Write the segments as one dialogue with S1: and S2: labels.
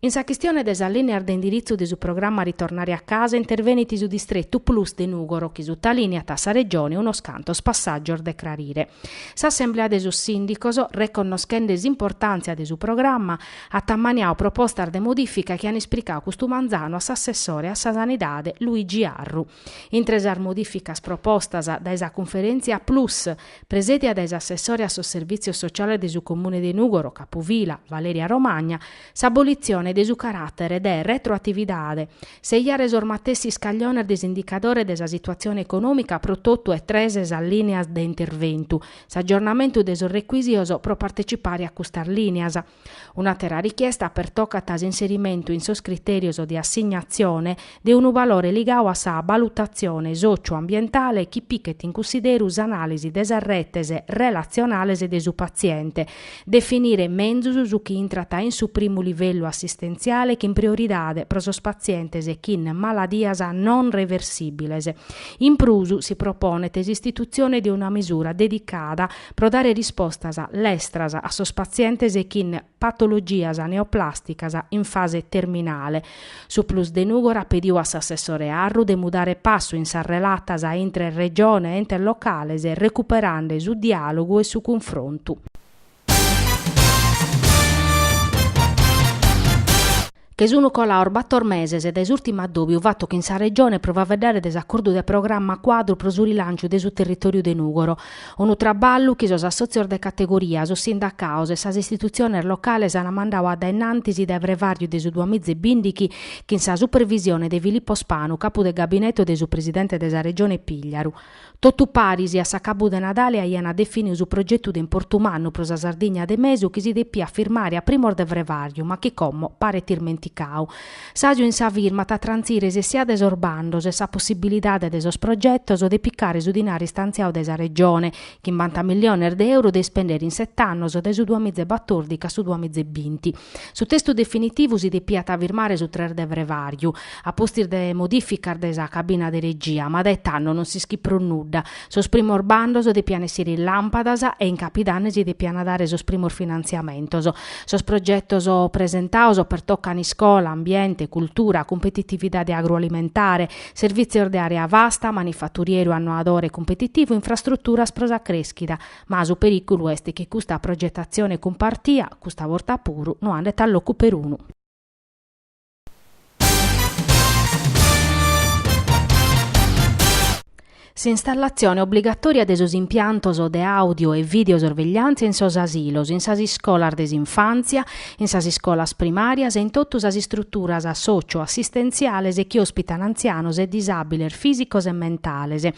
S1: In sa chistione de sas lìneas de indiritzu de su programma Ritornare a casa intervenit su distretu plus de Nùgoro chi sutalìniat a sa Regione unos cantos passàgios de crarire. S'assemblea de sos sìndicos, reconnoschende s'importàntzia de su programma, at ammaniadu propostas de modìfica chi an ispricadu custu manzanu a s'assessore a sa Sanidade Luigi Arru. Intre sas modìficas propostas dae sa cunferèntzia Plus, presèdia dae s'assessore a sos Servìtzios Sociales de su Comune de Nùgoro capufila, Valeria Romagna, s'abolitzione de su caràtere de retroatividade, seiare sos matessi iscagliones de s'indicadore de sa situatzione econòmica pro totu e tres sas lìneas de interventu, s'agiornamentu de sos recuìsios pro partecipare a custas lìneas, Un'àtera richiesta pertocat s'inserimentu in sos critèrios de assignatzione de unu valore ligadu a sa balutatzione sòciu-ambientale chi pighet in cussideru s'anàlisi de sas retes relatzionales de su patziente, definire menzus su chi intrat in su primu livellu assistentziale chin prioridade pro sos patzientes chin maladias non reversìbiles. In prus, si proponet s'istitutzione de una misura dedicada pro dare rispostas lestras a sos patzientes chin patologias neoplàsticas in fase terminale. Su Plus de Nùgoro at pediu a s'assessore Arru de mudare passu in sas relatas intre Regione e entes locales recuperande su diàlogu e su cunfrontu. che sunu colados bator meses dae s'ùrtimu addòbiu fatu chin sa Regione pro faeddare de s'acordu de programma cuadru pro su rilànciu de su territòriu de Nùgoro, unu traballu chi sos assòtzios de categoria, sos sindacados e sas istitutziones locales ant mandadu a dae in antis dae frevàrriu de su duamiza e bìndighi chin sa supervisione de Filippo Spanu, capu de gabinetu de su presidente de sa Regione Pigliaru. Totu paris a s'acabu de Nadale aiant definiu su progetu de importu mannu pro sa Sardigna de mesu chi si depiat firmare a primos de frevàriu ma chi como paret ismenticau. S'àsiu in sa firma at a trantzire s'essia de sos bandos e sa possibilidade de sos progetos de picare su dinari istantziau dae sa Regione, chimbanta milliones de euro de ispendere in set'annos dae su duamiza e batòrdichi a su duamiza e binti. Su testu definitivu si depiat firmare su tres de frevàriu. a pustis de modìficas de sa cabina de regia, ma dae tando non s'ischit prus nudda. Sos primos bandos depian essire in làmpadas e in Capidanne si depian dare sos primos finantziamentos. Sos progetos presentados pertocan iscola, ambiente, cultura, cumpetitividade agroalimentare, servìtzios de àrea vasta, manifaturieru annoadore cumpetitivu, infrastruturas pro sa crèschida, ma su perìculu est chi custa progetatzione cumpartia, custa borta puru, no andet a locu perunu. S'installazione obligatòria de sos impiantos de àudio e videosorvegliàntzia in sos asilos, in sas iscolas de s'infàntzia, in sas iscolas primàrias e in totu sas istruturas sòcio-assistentziales chi òspitan antzianos e disàbiles fìsicos e mentales,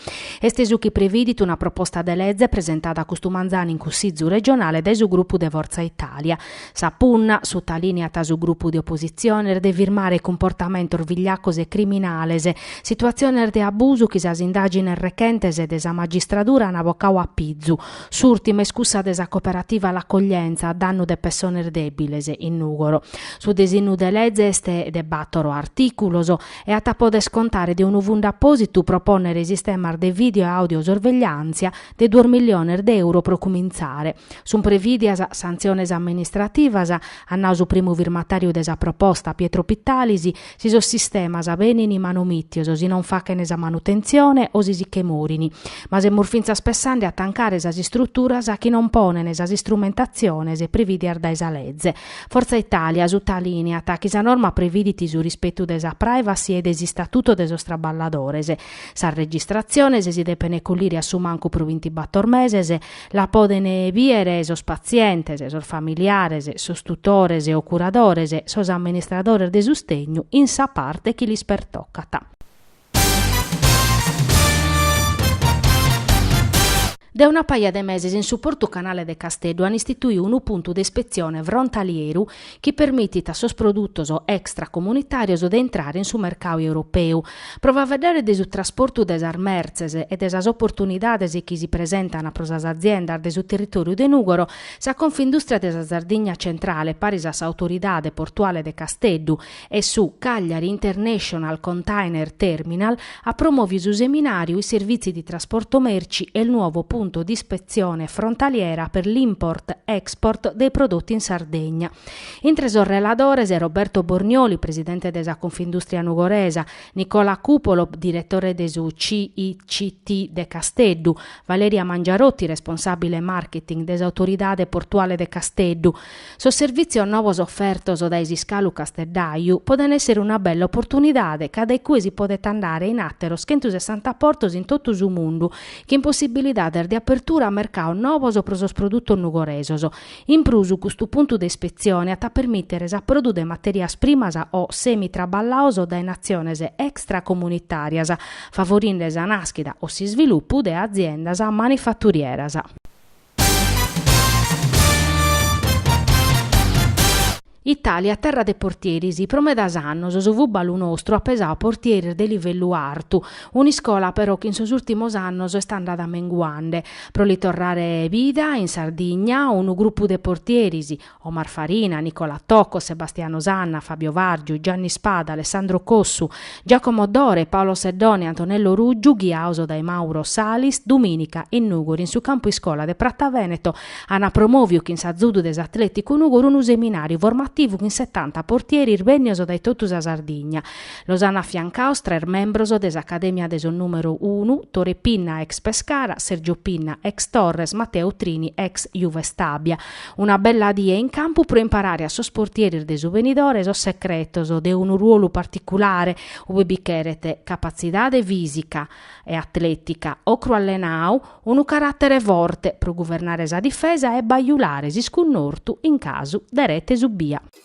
S1: est su chi previdit una proposta de lege presentada custu manzanu in Cussìgiu regionale dae su grupu de Forza Italia. Sa punna, sutalìniat su grupu de opositzione, est de firmare cumportamentos vigliacos e criminales, situatziones de abusu chi sas indàgines rechentes de sa magistradura ant bocau a pizu. S'ùrtima est cussa de sa cooperativa L'Accoglienza a dannu de pessones dèbiles in Nùgoro. Su disinnu de lege est de bàtoro artìculos e at a poder contare de unu fundu apòsitu pro pònnere sistemas de vìdeo e àudio-sorvegliàntzia, de duos milliones de euro pro cumintzare. Sunt prevìdias santziones amministrativas, at nau su primu firmatàriu de sa proposta, Pietro Pittalis, si sos sistemas benint manomìtios, si non faghent sa manutentzione o si si che morint. Ma semus fintzas pessande a tancare sas istruturas chi non ponent sas istrumentatziones prevìdias dae sa leze. Forza Italia sutalìniat chi sa norma previdit su rispetu de sa privacy e de s'istatutu de sos traballadores, Sas registratziones si depen collire a su mancu pro vintibàtor meses, la poden biere sos patzientes, sos familiares, sos tutores o curadores, sos amministradores de sustegnu in sa parte chi lis pertocat. De una paja de meses in su Portu Canale de Casteddu an istituiu unu puntu de ispetzione frontalieru chi permitit a sos produtos extracomunitàrios de intrare in su mercau europeu. Pro faveddare de su trasportu de sas mertzes e de sas oportunidades chi si presentan pro sas aziendas de su territòriu de Nùgoro, sa Confindùstria de sa Sardigna Centrale paris a s'Autoridade Portuale de Casteddu e su Cagliari International Container Terminal at promòviu su seminàriu I servizi di trasporto merci, e il nuovo punto di ispezione frontaliera per l'import-export dei prodotti in Sardegna. Intre sos reladores, Roberto Bornioli, presidente de sa Confindustria Nugoresa, Nicola Cupolo, direttore de su CICT de Casteddu, Valeria Mangiarotti, responsabile marketing de s'Autoridade Portuale de Casteddu, Sos servìtzios nobos ofertos dae s'iscalu Casteddaju podent èssere una bella oportunidade ca dae cue si podet andare in àteros chentu sessanta portos in totu su mundu chin possibilidades de apertura a mercaos nobos pro sos produtos nugoresos. In prus custu puntu de ispetzione at a permìtere s'aprodu de matèrias primas o semi traballaos dae natziones extracomunitàrias, favorinde sa nàschida o s'isvilupu de aziendas manifaturieras. Itàlia terra de portieris, pro medas annos su fùbalu nostru at pesau portieris de livellu artu, un'iscola però chi in sos ùrtimos annos est andada menguande. Pro li torrare vida in Sardigna unu grupu de portieris, Omar Farina, Nicola Tocco, Sebastiano Sanna, Fabio Vargiu, Gianni Spada, Alessandro Cossu, Giacomo Dore, Paolo Seddone e Antonello Ruggiu, ghiaos dae Mauro Salis, domìnica in Nùgori in su campu iscola de Prata Vèneto ant promòviu chin s'azudu de s'Atleticu Nùgori unu seminàriu formativu chin setanta portieris bènnios dae totu sa Sardigna. Los ant afiancaos tres membros de s'Acadèmia de sos Nùmero Unu, Tore Pinna ex Pescara, Sergio Pinna ex Torres, Matteo Trini ex Juve Stabia. Una bella die in campu pro imparare a sos portieris de su benidore sos secretos de unu ruolu particulare, ue bi cheret capatzidade fìsica e atlètica, ocru allenau, unu caràtere forte pro guvernare sa difesa e bajulare s'iscunnortu in casu de rete subia.